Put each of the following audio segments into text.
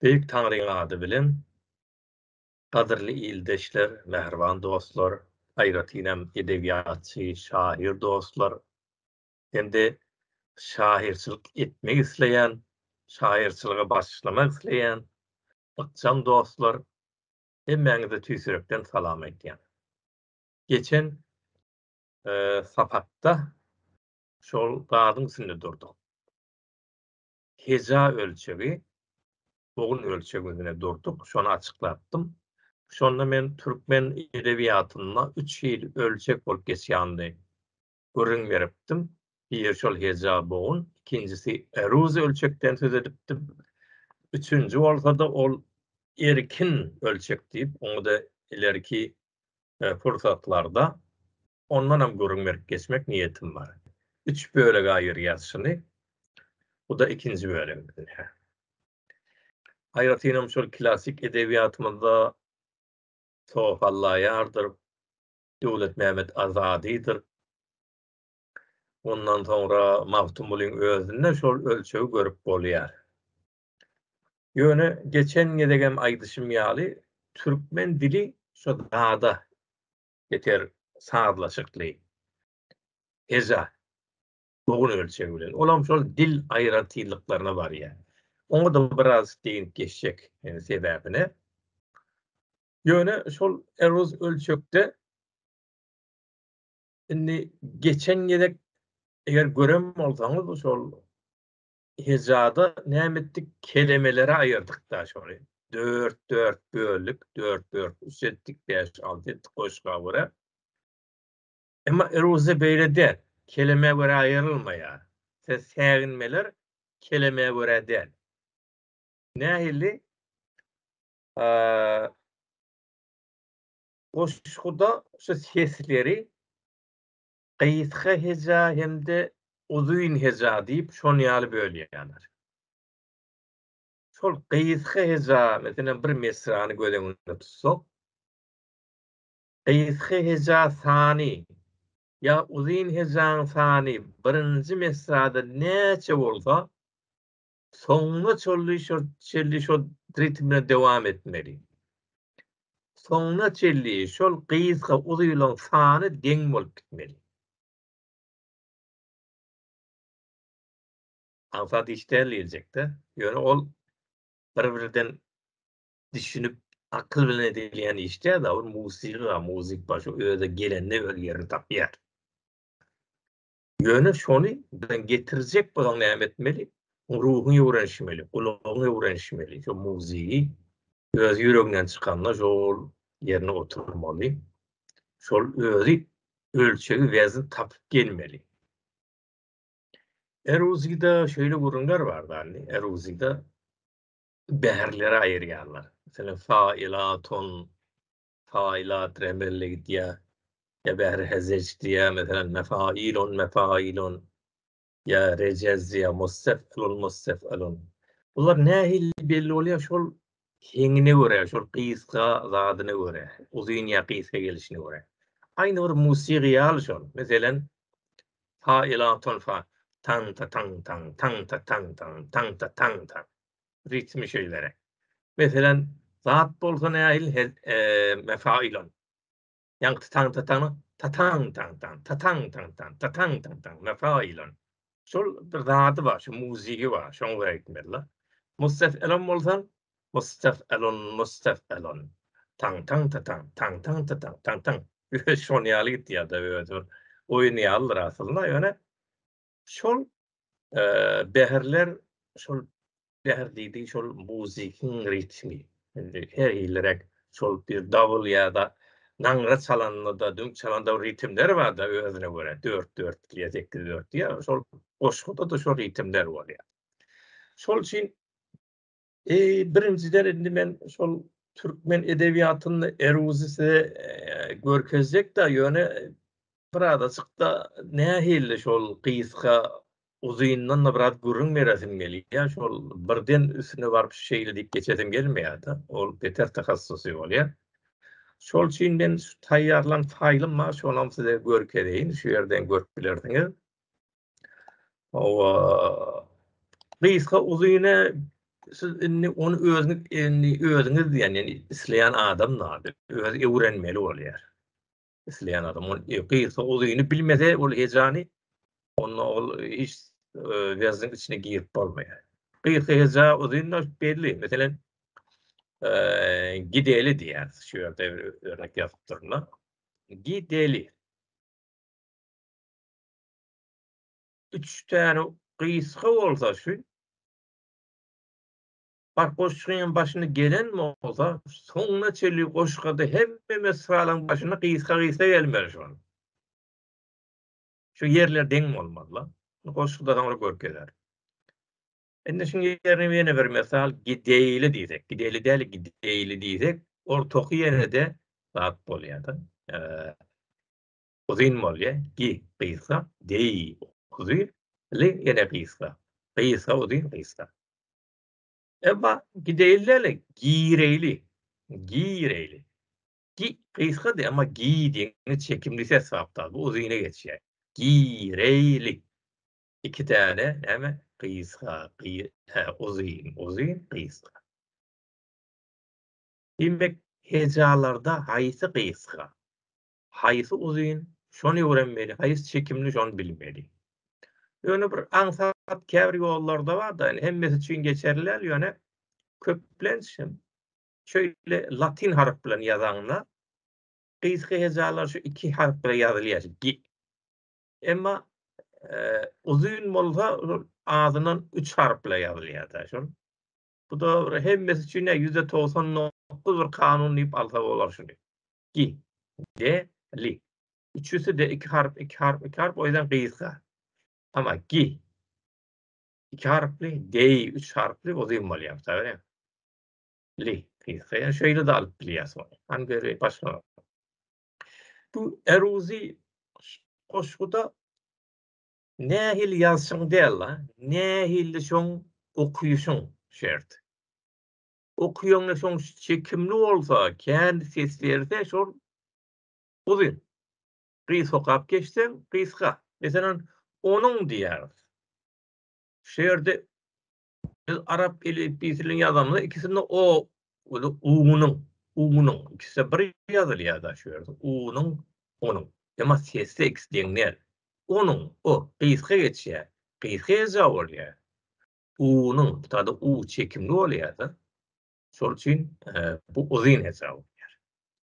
Beýik Taňryň ady bilen gadyrly ildeşler, mähriban dostlar, aýratynam edebiýatçy, şahyr dostlar hem-de şahyrçylyk etmek isleýän, şahyrçylyga başlamak isleýän ykjam dostlar, hemmäňize tüýs ýürekden salam aýdýan. Geçen sapakda şol gazyň üstünde durduk. Heja ölçegi, bogun ölçegi üstünde durduk, şony açyklapdym. Şonda men türkmen edebiýatynda üç hili ölçek bolup geçýänini gürrüň beripdim. Biri şol heja, bogun, ikinjisi eruz ölçekden söz edipdim. Üçünji bolsa-da ol erkin ölçek diýip, oňa-da ilerki pursatlarda ondanam gürrüň berip geçmek niýetim bar. Üç bölege aýyrýas şuny. Bu-da ikinji bölegimiz. Aýratynam şol klassyk edebiýatymyzda Sohallaýardyr, Döwletmämmet Azadydyr. Ondan soňra Magtymgulyň özünde şol ölçegi görüp bolýar. Ýöne geçen gezegem aýdyşym ýaly, türkmen dili şo zada Beter sazlaşykly heja bogun ölçegi bilen. Olam şol dil aýratynlyklaryna barýar. Oňa da biraz deýin geçjek e, sebäbine. Ýöne şol eruz ölçekde indi geçen gezek eger gören bolsaňyz şol hejada näme etdik? Kelemelere aýyrdyk-da şony. Dört-dört böldük, dört-dört üç etdik, bäş-alty etdik goşga görä. Emma iruzda beýle däl. Kelemä görä aýrylmaýar. Ses säginmeler kelemä görä däl. Nähili? Goşguda şu sesleri Gysga heja hem-de uzyn heja diýip şon ýaly bölýärler. Şol gysga heja, meselem, bir mesrany göz öňünde tutsak, gysga heja sany ýa uzyn hejaň sany birinji mesrada näçe bolsa, Soňuna çolli şol çelli şol ritm bilen dowam etmeli. Soňuna çelli şol gysga uzylyň sany deň bolup gitmeli. Aňsat işdäl diýiljekde, ýöne ol bir-birden düşünip akyl bilen edilýän iş däl, ol muzyka, muzyk başy özi gelende öz ýerini tapýar. Ýöne şony bilen getirjek bolsaň näme etmeli? Ruhuň öwrenişmeli, gulagyň öwrenişmeli, şo muzygy öz ýüreginden çykanda şol ýerine oturmaly. Şol özi ölçegi wezn tapyp gelmeli. Eruzida şöyle gurunlar var dani. Eruzida beherlere ayıryanlar. Mesela failatun Faýlat remelle gidýär. Ýa Bähri Hezeç diýýär, meselem, mefailun, mefailun. Ýa Rejez diýýär, mustef'ilun, mustef'ilun. Bular nähili belli bolýar, şol heňine görä, şol gysga zadyna görä, uzyn ýa gysga gelişine görä. Aýny bir musiga ýaly şol. Meselem, faýlatun, fa, taň-ta-taň-taň, taň-ta-taň-taň, taň-ta-taň-taň. ritmi şeýleräk. Meselem, zat bolsa nähili he, e, mefailon. Ýaňky tataň tataň tataň taň taň tataň taň taň tataň taň taň mefailon. Şol bir zady bar, şu muziki bar, şoň we ekmella. Mustaf elon bolsa, mustaf elon, mustaf elon. Taň taň tataň taň taň tataň taň taň. Şoň ýaly gitýär-de özü. Oýun ýalydyr aslynda, ýöne Şol bäherler, şol bäher diýdi, şol muzykyň ritmi. Indi her ýylrak şol bir dawul ýa-da naňra çalanda-da, düň çalanda ritmler bar-da özüne görä, 4-4 diýýär, 8-4 diýýär. Şol goşguda-da şol ritmler bolýar. Şol üçin Eee birinjiden indi men şol türkmen edebiýatynda Eruzy size e, görkezjek da ýöne birazajykda nähili şol gysga uzyndan da biraz gürrüň beresim gelýär. Şol birden üstüne baryp şeýle diýip geçesim gelmeýär da. Ol beter tahassusy bolýar. Şol üçin men şu taýýarlan faýlym bar, şonam size görkezeýin. Şu ýerden görüp bilersiňiz. Owa. Gysga uzyny siz indi ony özüňiz indi özüňiz diýen ýaly isleýän adam zady öz öwrenmeli bolýar. Isleýän adam ony gysga uzyny bilmese ol hejany onda ol hiç ýazyň e, içine girip bolmaýar. Gysga heja uzyny belli. Meselem, e, gideli diýär. Şu ýerde örnek ýazyp durna. Gideli. Üç täne gysga bolsa şu Bar goşgyň hem başyny gelen bolsa soňuna çenli goşgada hemme mesralan başyny gysga gysga gelmeli şu. Şu ýerler deň bolmaly. Goşgyda soňra görkezer. Indi şu ýerine ýene bir mesal gideýli diýsek, gideýli däl gideýli diýsek, ortaky ýerde zat bolýar da. Uzyn bolýa, gi, gysga, geý, uzy, ly, ýene gysga, gysga, uzyn, gysga. Emma gideýli-le, gireýli, gireýli. Gi, gysgady, emma gi diýeni çekimli ses sapdal, bu uzyna geçýär. Gireýli. Iki däne näme? Gysga, gy, hä, uzyn, uzyn, gysga. Diýmek, hejalarda haýsy gysga? Haýsy uzyn, şony öwrenmeli, haýsy çekimli, şony bilmeli. Ýöne bir aňsat käbir ýollarda bar-da, ýöne hemmesi üçin geçerli däl, ýöne köplenç hem şeýle latyn harp bilen ýazaňda, gysga hejalar şu iki harp bilen ýazylýar, gi. Emma uzyn bolsa, azyndan üç harp bilen ýazylýar-da, şol. Bu-da hemmesi üçin ýüz togsan dokuz bir kanun diýip alsa bolar şuny. Gi. Ge. Li. Üçüsi-de iki harp, iki harp, iki harp, o ýüzden gysga. Ama gi. Iki harpli, gei üç harpli uzyn bolýar, taýýar. Li. Gysga. Ýa şeýle de alyp bilýäs ony. Han geri başga. Bu eruzi goşguda nähili ýazşyň däl-de, nähili şoň okyşyň şert. Okuýaň ne soň çekimli bolsa, kän ses berse şol uzyn. Gysga okap geçseň gysga. Meselem, onuň diýýäris. Şu ýerde biz arap elipbiýsini ýazanda ikisinde o we u-nyň, u-nyň ikisi bir ýazylýar da şu ýerde. U-nyň, onuň. Emma sesde ikisi deň däl. Onuň, o, gysga geçýär. Gysga eja bolýar. U-nyň, bu taýda U çekimli bolýar-da. Şol üçin bu uzyn hesap bolýar.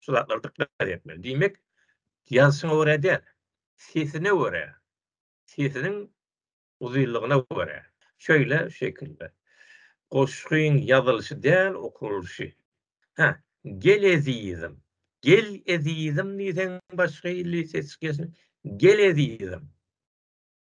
Şu zatlara dykgat etmeli. Diýmek, ýazyşyňa görä däl, sesine görä, sesiniň uzynlygyna görä. Şeýle şekilde. Goşgyň ýazylyşy däl, okulyşy. Hä, gel ezizim. Gel ezizim diýseň başga hili ses çykyşy. Gel ezizim.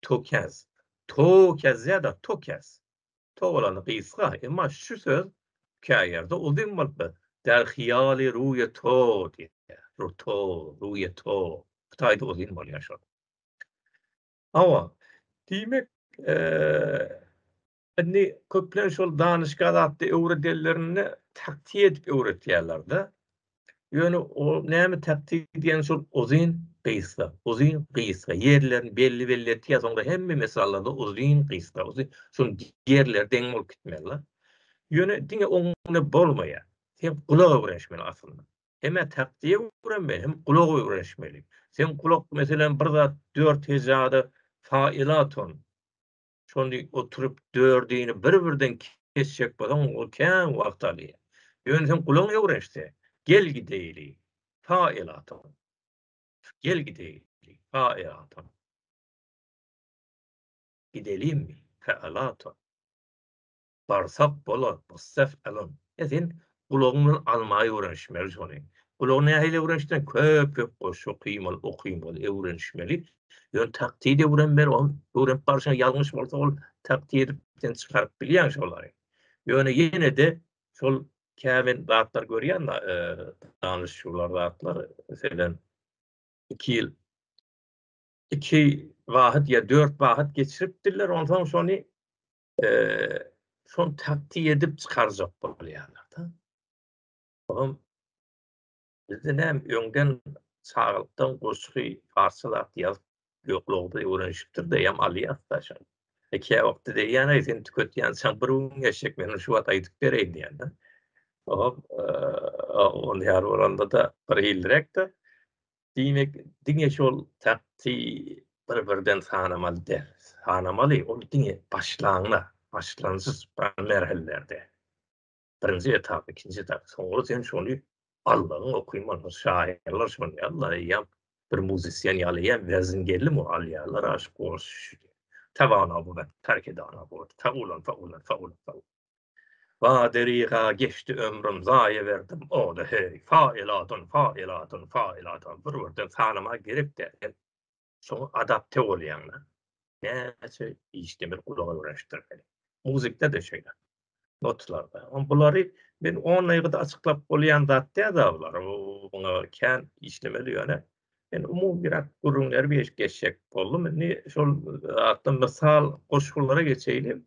Tokäz. Tokäz ýa-da tokäz. To bolanda gysga, emma şu söz käýerde uzyn bolup biler. Däl hyýaly ruýe to diýýär. Ruto, ruýe to. Hytaýda uzyn bolýar şol. Hawa, diýmek, Indi köplenç şol danyşga zatda öwredenlerinde taktiýe edip öwretýärler-de. Ýöne o näme taktiýe diýen şol uzyn, gysga, uzyn, gysga ýerlerini belli-belli etýär. Soňra hemme mesallarda uzyn, gysga, uzyn, şol ýerleri deň bolup gitmeli. Ýöne diňe oňa bolmaýar. Sen gulak öwrenişmeli aslynda. Hem taktiýe öwrenmeli, hem gulak öwrenişmeli. Sen gulak meselem bir zat dört hejada fa ila ton. Şonda oturyp dördini bir-birden kesjek bolsaň, ol kän wagt alýar. Ýöne sen gulaň öwrenişse, gel gideýli, pa elatam. Gel gideýli, pa elatam. Gidelimmi, pa elatam. Barsak bolar, Mustaf Alon. Ýa sen gulagyň bilen almaý öwrenişmeli şony. Gulagy nähili öwrenişdiň? Köp köp goşgy okymaly, okymaly, öwrenişmeli. Ýöne taktydy öwrenmeli, ony öwrenip barşyňda ýalňyş bolsa ol takty edip sen çykaryp bilýäň şolary. Ýöne ýene-de şol käbir zatlar görýän da danyşyjylar zatlar meselem iki ýyl iki wagyt ýa dört wagyt geçiripdirler onsoň şony şony taktik edip çykarjak bolýarlar-da. Olam bizde näm öňden çagalykdan goşgy parsça zat ýazyp ýoklugda öwrenişipdir de ýam alýas da şol. Iki e, wagtda diýýän aý sen tüketýän sen bir gün geçjek men şu wagt aýdyp bereýin diýýän da. Olam e, on ýar bolanda da bir ilrekde Diýmek, diňe şol takty bir-birden sanamaly däl. Sanamaly, ol diňe başlangyç, başlangyç merhellerde. Birinji etap, ikinji etap. Soňra sen şony Allaň okyman, şahyrlar şony Allaň eýýäm bir muzysýen ýaly ýa wezin geldi mi alýarlar aşyk bolşy. Tabana bu, tarkedana bu, tawlan, tawlan, tawlan, tawlan. Badyryga geçdi ömrüm zaýa berdim oda heý faýylatyn faýylatyn faýylatyn bir birden sanama gerek däl hem şoňa adapte bolýaňda näçe işde bir gulaga öwrenişdirmeli muzykda da şeýle notlarda on bulary men on ýerde açyklap bolýan zat däl da bular muňa kän işlemeli ýöne men umumy bir gürrüňleri bir geçjek boldum indi şol atdan mysal goşgulara geçeýin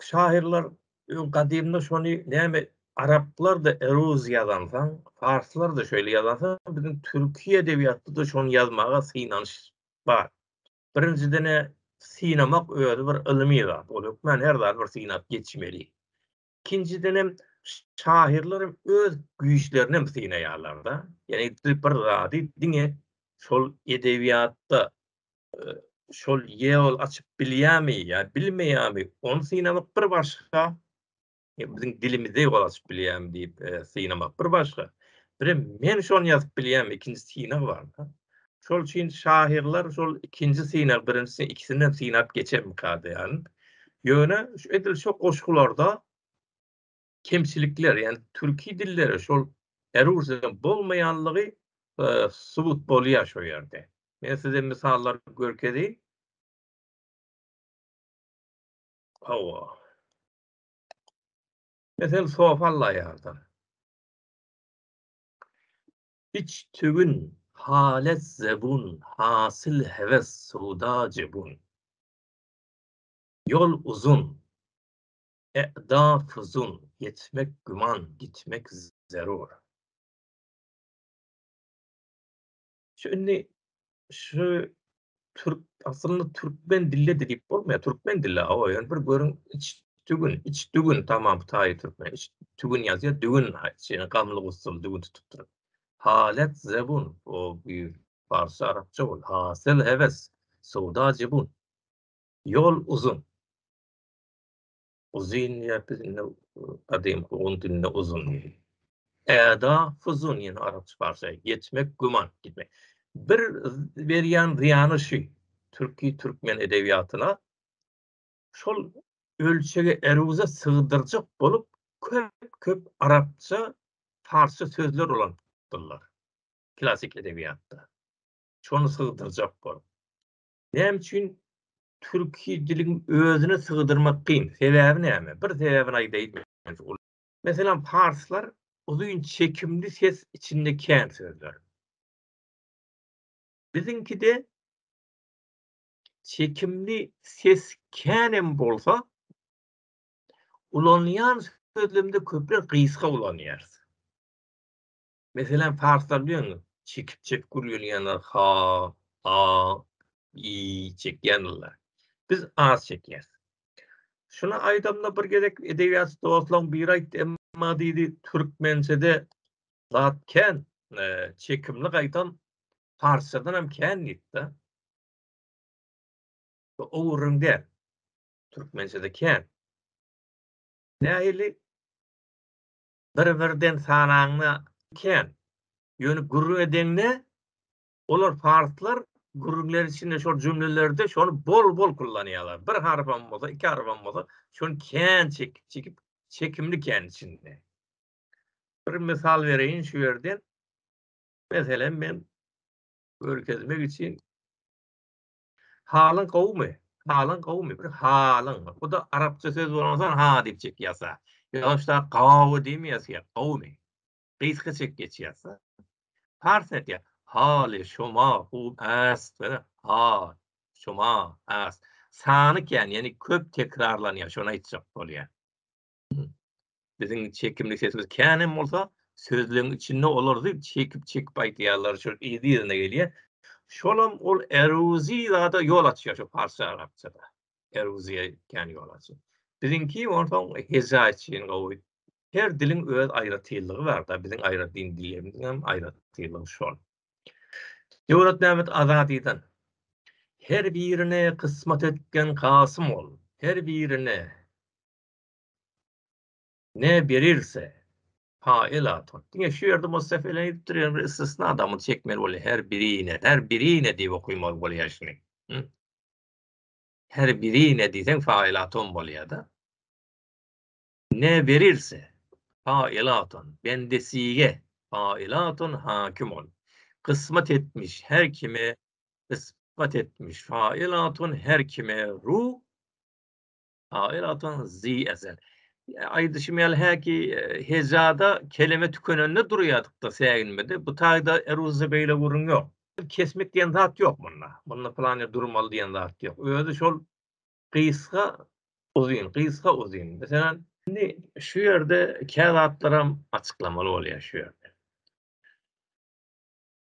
şahyrlar öň gadymda şony näme araplar da eruz ýazansaň, parslar da şeýle ýazansa, biziň türki edebiýatda-da şony ýazmaga synanyş bar. Birinjiden-ä synamak özi bir ylmy zat. Ol hökmän her zady bir synap geçmeli. Ikinjiden hem şahyrlar hem öz güýçlerini hem synaýarlar-da. Ýagny bir zady diňe şol edebiýatda şol ýol açyp bilýärmi ýa bilmeýärmi ony synamak bir başga biziň dilimize ýol açyp bilýärmi diýip synamak bir başga birem men şony ýazyp bilýärmi ikinji synag bar şol üçin şahyrlar şol ikinji synag birinjisi ikisini hem synap geçermika diýýärin ýöne edil şu goşgularda kemçilikler, ýagny türki dillere şol eruzýa bolmaýanlygy e, subut bolýar şu ýerde. Men size misallar görkezeýin. Hawa. Mesel sofalla ýardan. Hiç tügün halet zebun, hasil heves suda cebun. Yol uzun, E'da fuzul, ýetmek güman, gitmek zerur. Şu indi şu türk aslynda türkmen dilli diýip bolmaýar. Türkmen dilli awa ýöne bir görüň iç tügün, iç tügün tamam taýy türkmen. Iç tügün ýazýar, dügün şeýle gamly gussul dügün tutup dur. Halet zebun o bu parsy arapça bol. Hasyl heves, sowda jebun. Ýol uzun. Uzyn diýýär biz indi gadymy ogun dilinde uzun. Äda fuzun ýene arapça parça geçmek güman gitmek. Bir berýän zyýany şu türki türkmen edebiýatyna şol ölçege eruza sygdyrjak bolup köp-köp arapça parça sözler ulandylar. Klasik edebiýatda. Şonu sygdyrjak bolup. Näme üçin türki diliň özüne sygdyrmak kyn? Sebäbi näme? Bir sebäbini aýdaýyn. Meselem, parslar uzyn çekimli ses içinde kän sözler. Biziňkide çekimli ses kän hem bolsa, ulanýan sözlemde köpler gysga ulanýarys. Meselem, parslar diýeňiz, çekip-çekip gürleýänler, ha, a, i çekýändirler. Biz az çekýäs. Şuny aýdamda bir gezek edebiýatçy dostlaryň biri aýtdy, emma diýdi, türkmençede zat kän, e, çekimli gaýtam parsçadan hem kän diýdi-de. Bu owuryn däl. Türkmençede kän. Nähili? bir-birden sanaňda kän. Ýöne gürrüň edeňde, olar, parslar, gürrüňler içinde şol jümlelerde şony bol-bol kullanýarlar. Bir harpam bolsa, iki harpam bolsa, şony kän çekip-çekip, çekimli kän içinde. Bir mysal bereýin şu ýerden. Meselem, men görkezmek üçin Halyň gowumy? Halyň gowumy? Bir halyň. Bu-da arapça söz bolansoň ha diýip çek ýasa. Ýa-da şu dak gawy diými ýazýar, gowumy? Gysga çek geç ýasa. Parsça aýdýar, Haly şoma hum ast. Görä, ha şoma ast. Sany kän, ýagny köp tekrarlanýar, şony aýtjak bolýar. Biziň çekimli sesimiz kän hem bolsa, sözleriň içinde olar zyl çekip-çekip aýdýarlar, şol yz-yzyna gelýär. Şolam ol eruzi zada ýol açýar şu parsça-arapçada. Eruziýa kän ýol açýar. Biziňki onsoň heja üçin gowy. Her diliň öz aýratynlygy bar-da, biziň aýratyn dillerimiziň hem aýratynlygy şol. Döwletmämmet Azadydan, Her birine kysmat etgen Kasym ol, her birine. Ne berilse, ha elatun. Diňe şu ýerde Mustafa ile edip durýan bir istisna adamy çekmeli bolýar. Her birine, her birine diýip okymaly bolýar şuny. Her birine diýseň fa elatun bolýar-da. Ne berilse, ha elatun. Bendesige, ha elatun hakim ol. Kysmat etmiş her kime, kysmat etmiş. Fa elatun her kime ru. Aýr atan zi ezel. Aýdyşym ýaly häki e, hejada kelime tükenende durýadykda säginmede. Bu taýda eruzda beýle gürrüň ýok. Kesmek diýen zat ýok munda. Munda plan durmaly diýen zat ýok. Özi şol gysga uzyn, gysga uzyn. Meselem, indi şu ýerde käzatlaram açyklamaly bolýar şu ýerde.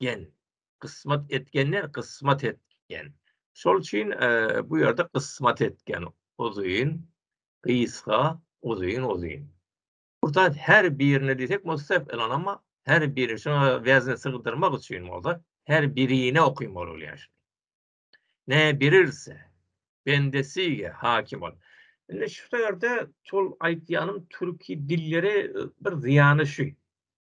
etgen. Gysmat etgen der, gysmat etgen. Şol üçin bu ýerde gysmat etgen. Uzyn, gysga, uzyn, uzyn. Burada her birine diýsek mustaf elan amma her biri şuna wezne sygdyrmak üçin bolsa her birine okuymaly bolýar. Ne birilse bendesige hakim ol. Indi şu ýerde şol aýtýanym türki dillere bir zyýany şu.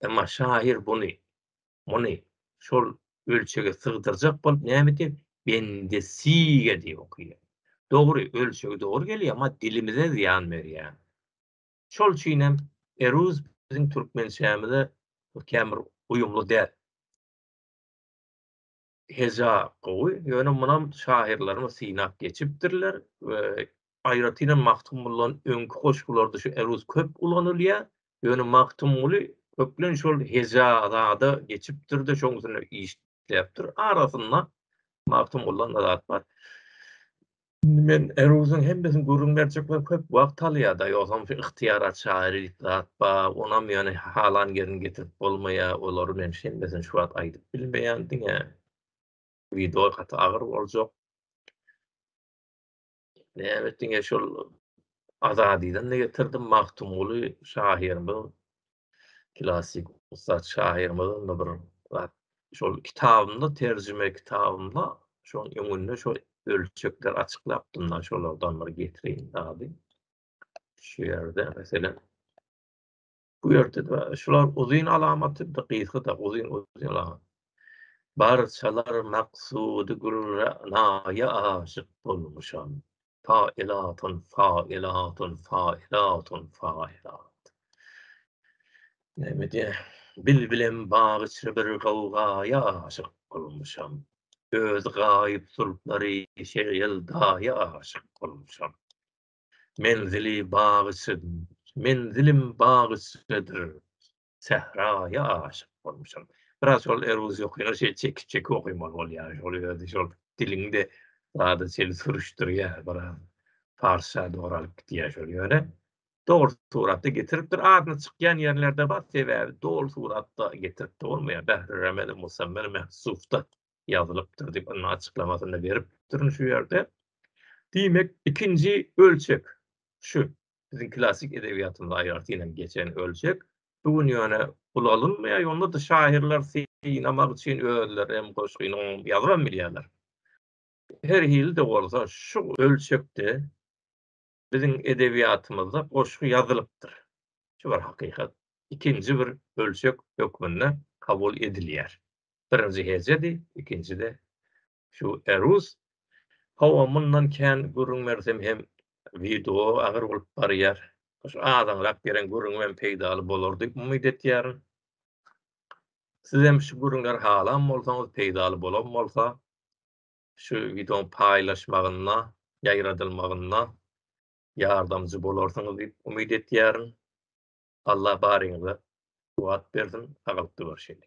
Emma şahyr buny, muny şol ölçege sygdyrjak bolup näme edýär? Bendesige diýip okýar. Dogry, ölçegi dogry gelýär, emma dilimize zyýan berýär. Şol üçin hem eruz biziň türkmençämize kän bir uýumly däl. heja gowy, ýöne munam şahyrlarymyz synap geçipdirler we aýratynam Magtymgulydan öňki goşgularda şu eruz köp ulanylýar. Ýöne Magtymguly köplenç şol heja zada geçipdir-de, şoň üstünde işläpdir. Arasynda Magtymgulydan-da zat bar. Indi men Eruzyň hemmesini gürrüň berjek men köp wagt alýada ýogsam şu ygtyýar açar ýerik zat ba onam ýöne halan ýerini getirip bolmaýa olary men hemmesini şu wagt aýdyp bilmeýän diňe wideo gaty agyr boljak näme diňe şol azadydan getirdim Magtymguly şahyrymyz Klassyk ussat şahyrymyz onda bir zat. Şol kitabymda, terjime kitabymda şoň öňünde şo ölçekler açyklapdym da, şolardan bir getireýin zady. Şu ýerde, meselem, bu ýerde-de şular uzyn alamaty, bir gysga-da uzyn, uzyn alamat. Barçalar maksudy gülre naýa aşyk bolmuşam. Failatun, failatun, failatun, failat. Näme diýä? Bilbilem bag içre bir gawgaýa aşyk bolmuşam. Öz gaýyp zülplary şeýle ýeldaýa aşyk bolmuşam. Menzili bag içre, menzilim bag içredir. sähraýa aşyk bolmuşam. Biraz şol eruz ýokyna şeýle çekip-çekip okaýmaly bolýar. Şol ýerde şol diliňde zady seni sürüşdirýär biraz. Parsça dogry alyp gidýär şol ýöne. Dogry suratda getiripdir. Adyna çykýan ýerlerde bar. Sebäbi doly suratda getirip bolmaýar. Bähri Remeli Musammer Mehsufda ýazylypdyr diýip ynha açyklamasyny beripdirin şu ýerde. Diýmek ikinji ölçek şu. biziň klassyk edebiýatymyzda aýratynam geçen ölçek. Bu gün ýöne ulalynmaýar, ýonda-da şahyrlar synamak üçin özleri hem goşgyny ýazybam bilýärler. Her hili-de bolsa, şu ölçekde biziň edebiýatymyzda goşgy ýazylypdyr. Şu bir hakykat. Ikinji bir ölçek hökmünde kabul edilýär. Birinji hejedi, ikinji-de Şu Erus Hawa mundan kän gürrüň bersem hem wideo agyr bolup barýar. Şu azaňrak beren gürrüňimem peýdaly bolar diýip umyt etýärin. Sizem şu gürrüňleri halan bolsaňyz peýdaly bolan bolsa şu wideoň paýlaşmagynda, ýaýradylmagynda ýardamjy bolarsyňyz diýip umyt etýärin. Allah baryňyza kuwwat bersin, sagalyk görüşeli.